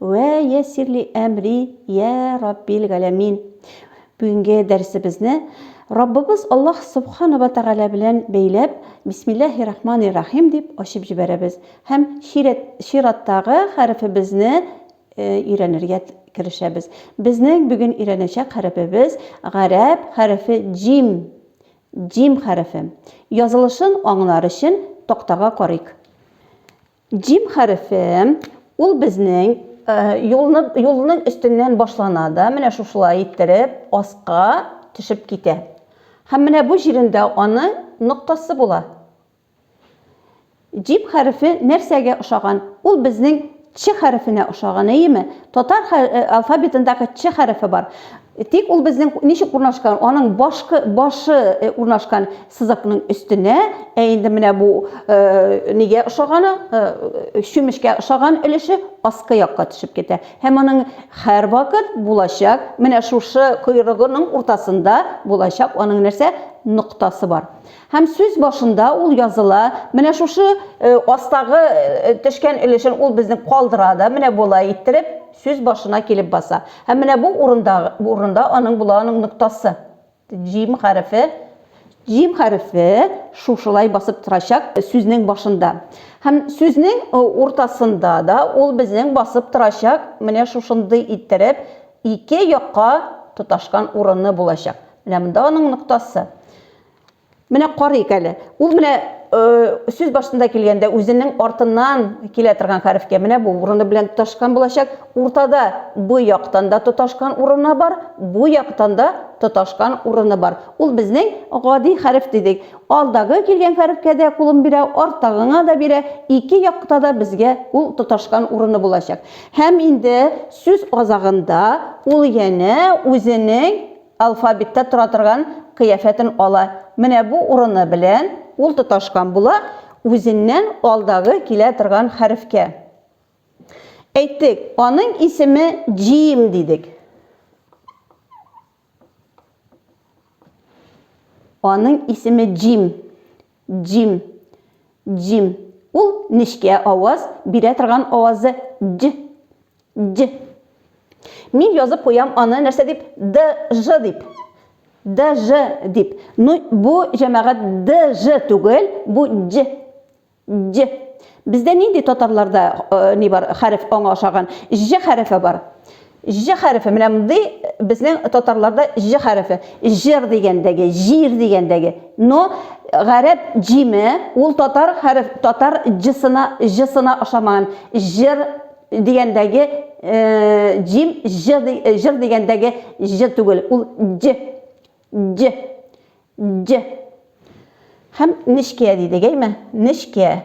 Вә яссир ли әмри, йә Раббил галәмин! Бүгенге дәресебезне Раббыбыз Аллаһ Собхана вә Тәгалә белән бәйләп, Бисмиллаһи рахмани рахим дип ачып җибәрәбез һәм чирәт, чираттагы хәрефебезне өйрәнергә керешәбез. Безнең бүген өйрәнәчәк хәрефебез гарәп хәрефе җим, җим хәрефе. Язылышын аңлар өчен тактага карыйк. Җим хәрефе, ул безнең юлны, юлның өстеннән башлана да, менә шушылай иттереп, аска төшеп китә. Һәм менә бу җирендә аның ноктасы була. Җим хәрефе нәрсәгә ошаган? Ул безнең Ч хәрефенә ошаган, әйеме? Татар алфавитындагы Ч хәрефе бар. Тик ул безнең ничек урнашкан? Аның башкы башы э, урнашкан сызыкның өстенә, ә инде менә бу э, нигә ошаганы, э, чүмешкә ошаган өлеше аскы якка төшеп китә. Һәм аның һәр вакыт булачак, менә шушы койрыгының уртасында булачак аның нәрсә? Ноктасы бар. Һәм сүз башында ул языла, менә шушы э, астагы э, төшкән өлешен ул безнең калдыра да, менә болай иттереп, Сүз башына килеп баса. Һәм менә бу урында урында аның була аның ноктасы. Җим хәрефе. Җим хәрефе шушылай басып торачак сүзнең башында. Һәм сүзнең уртасында да ул безнең басып торачак менә шушындый иттереп ике якка тоташкан урыны булачак. Менә монда аның ноктасы. Менә карыйк әле. Ул менә сүз башында килгәндә үзенең артыннан килә торган хәрефкә менә бу урыны белән тоташкан булачак. Уртада бу яктан да тоташкан урыны бар, бу яктан да тоташкан урыны бар. Ул безнең гади хәреф дидек. Алдагы килгән хәрефкә дә кулын бирә, арттагыңа да бирә. Ике якта да безгә ул тоташкан урыны булачак. Һәм инде сүз азагында ул янә үзенең алфавитта тора торган кыяфәтен ала. Менә бу урыны белән ул тоташкан була үзеннән алдагы килә торган хәрефкә. Әйттек, аның исеме Джим дидек. Аның исеме Джим. Дим. Дим. Ул нечкә аваз бирә торган авазы дь. Дь. Мин язып куям аны нәрсә дип? Д-ж дип. Д-ж дип. Ну, бу җәмәгать д-ж түгел, бу дь. Дь. Бездә нинди татарларда ни бар, хәреф аңа охшаган? Ж хәрефе бар. Ж хәрефе менә мондый безнең татарларда ж хәрефе. Җыр дигәндәге, җир дигәндәге. Но гарәп җиме ул татар хәреф, татар җсына, җсына ошамаган. Җыр дигәндәге җим ж җыр дигәндәге ж түгел, ул дж. Дж. Дж. Һәм нечкә дидек, әйме? Нечкә.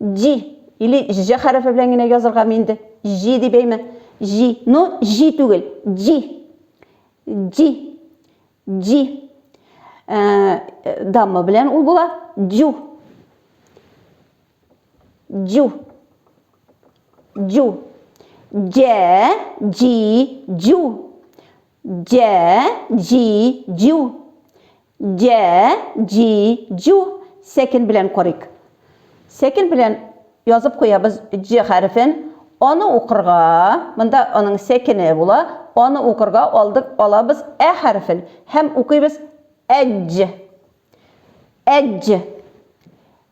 Җи, или җ хәрефе белән генә языргамы инде? Җи дип әйме? Җи, ну, җи түгел, җи. Җи. Җи. Ә, дамма белән ул була. Җу. Җу. Җу. Җә, җи, җу. Дә-ди-дю. Дә-ди-дю. Сәкен белән карыйк. Сәкен белән язып куябыз Д хәрефен. Аны укырга, монда аның сәкене була, аны укырга алдык, алабыз Ә хәрефен һәм укыйбыз Әдҗ. Әдҗ.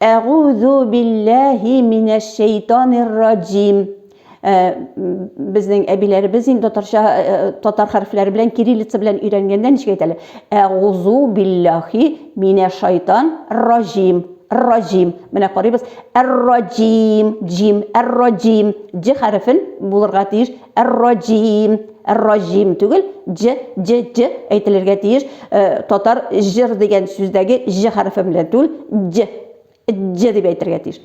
Әгузу билләһи минәш шәйтанир раҗим. Э, безнең әбиләребез инде татарча э, э, татар хәрефләре белән кириллица белән өйрәнгәндә ничек әйтәләр әгузу биллахи минә шайтан раҗим раҗим менә карыйбыз әр-раҗим җим әр-раҗим җ хәрефен булырга тиеш Эр-раҗим, эр-раҗим түгел, дж, дж, дж әйтелергә тиеш. Э, татар җыр дигән сүздәге ж хәрефе белән түгел, дж, дж дип әйтергә тиеш.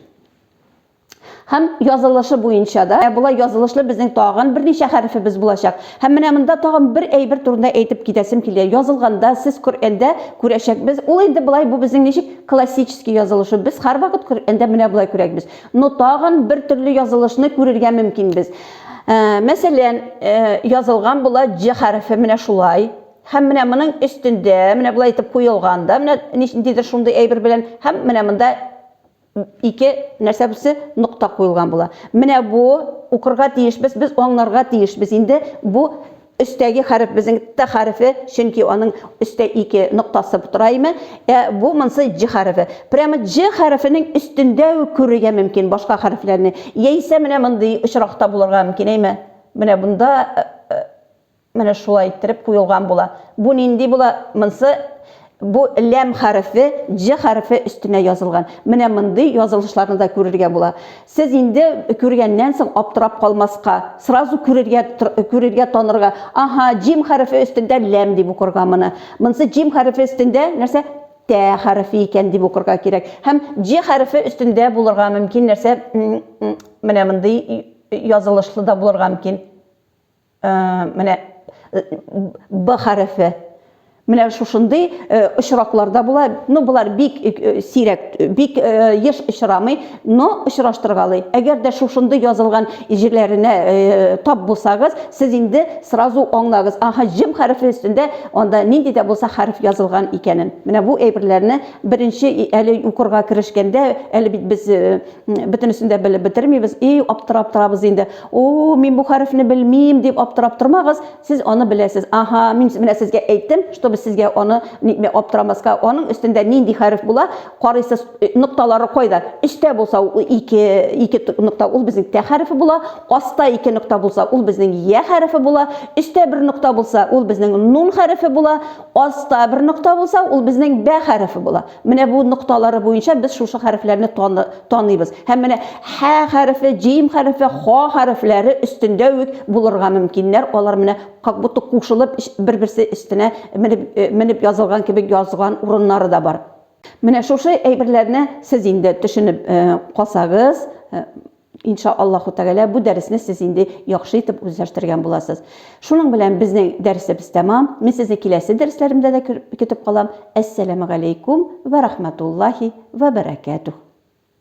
Һәм язылышы буенча да, ә болай язылышлы безнең тагын берничә хәрефебез булачак. Һәм менә монда тагын бер әйбер турында әйтеп китәсем килә. Язылганда сез Коръәндә күрәчәкбез. Ул инде болай бу безнең ничек классический язылышы. Без һәрвакыт Коръәндә менә болай күрәкбез. но тагын бер төрле язылышны күрергә мөмкинбез. Ә, мәсәлән, ә, язылган була Җ хәрефе менә шулай. Һәм менә моның өстендә, менә болай итеп куелган да, менә ниндидер шундый әйбер белән, һәм менә монда ике нәрсә бусы нокта куелган була. Менә бу укырга тиешбез, без аңларга тиешбез инде бу Өстәге хәреф безнең Т хәрефе, чөнки аның өстә ике ноктасы тора име. Ә бу монсы Дж хәрефе. Прямо Дж хәрефенең өстендә үк күрергә мөмкин башка хәрефләрне. Яисә менә мондый очракта булырга мөмкин, әйме? Менә монда менә шулай иттереп куелган була. Бу нинди була? Монсы Бу ләм хәрефе дж хәрефе өстенә язылган. Менә мондый язылышларны да күрергә була. Сез инде күргәннән соң аптырап калмаска, сразу күрергә, күрергә, танырга, аһа, джим хәрефе өстендә ләм дип укырга моны. Монсы джим хәрефе өстендә нәрсә? Тә хәрефе икән дип укырга кирәк. Һәм дж хәрефе өстендә булырга мөмкин нәрсә? Менә мондый язылышлы да булырга мөмкин. Менә Б хәрефе. Менә шушындый очракларда була. Ну, болар бик сирәк, бик еш очрамый, но очраштыргалый. Әгәр дә шушындый язылган җирләренә тап булсагыз, сез инде сразу аңлагыз, аһа, җим хәрефе өстендә анда нинди дә булса хәреф язылган икәнен. Менә бу әйберләрне беренче әле укырга керешкәндә, әле бит без бөтенесен дә белеп бетермибез и аптырап торабыз инде о мин бу хәрефне белмим дип аптырап тормагыз сез аны беләсез аха мин менә сезгә әйттем чтобы сезгә аны нитмә аптырамаска аның өстендә нинди хәреф була карыйсыз э, нокталары кайда өстә булса ул ике ике нокта ул безнең тә хәрефе була аста ике нокта булса ул безнең я хәрефе була өстә бер нокта булса ул безнең нун хәрефе була аста бер нокта булса ул безнең бә хәрефе була Менә бу нокталары буенча без шушы хәрефләрне таныйбыз. Һәм менә һә хәрефе, җим хәрефе, ха хәрефләре өстендә үк булырга мөмкиннәр. Алар менә как будто кушылып бер-берсе өстенә менеп, менеп язылган кебек язган урыннары да бар. Менә шушы әйберләрне сез инде төшенеп калсагыз, Ин ша Аллаһу тәгалә бу дәресне сез инде яхшы итеп үзләштергән буласыз. Шуның белән безнең дәресебез тәмам. Мин сезне киләсе дәресләремдә дә көтеп калам. Әссәләмегаләйкүм вә рахмәтуллаһи вә бәрәкәтүһ.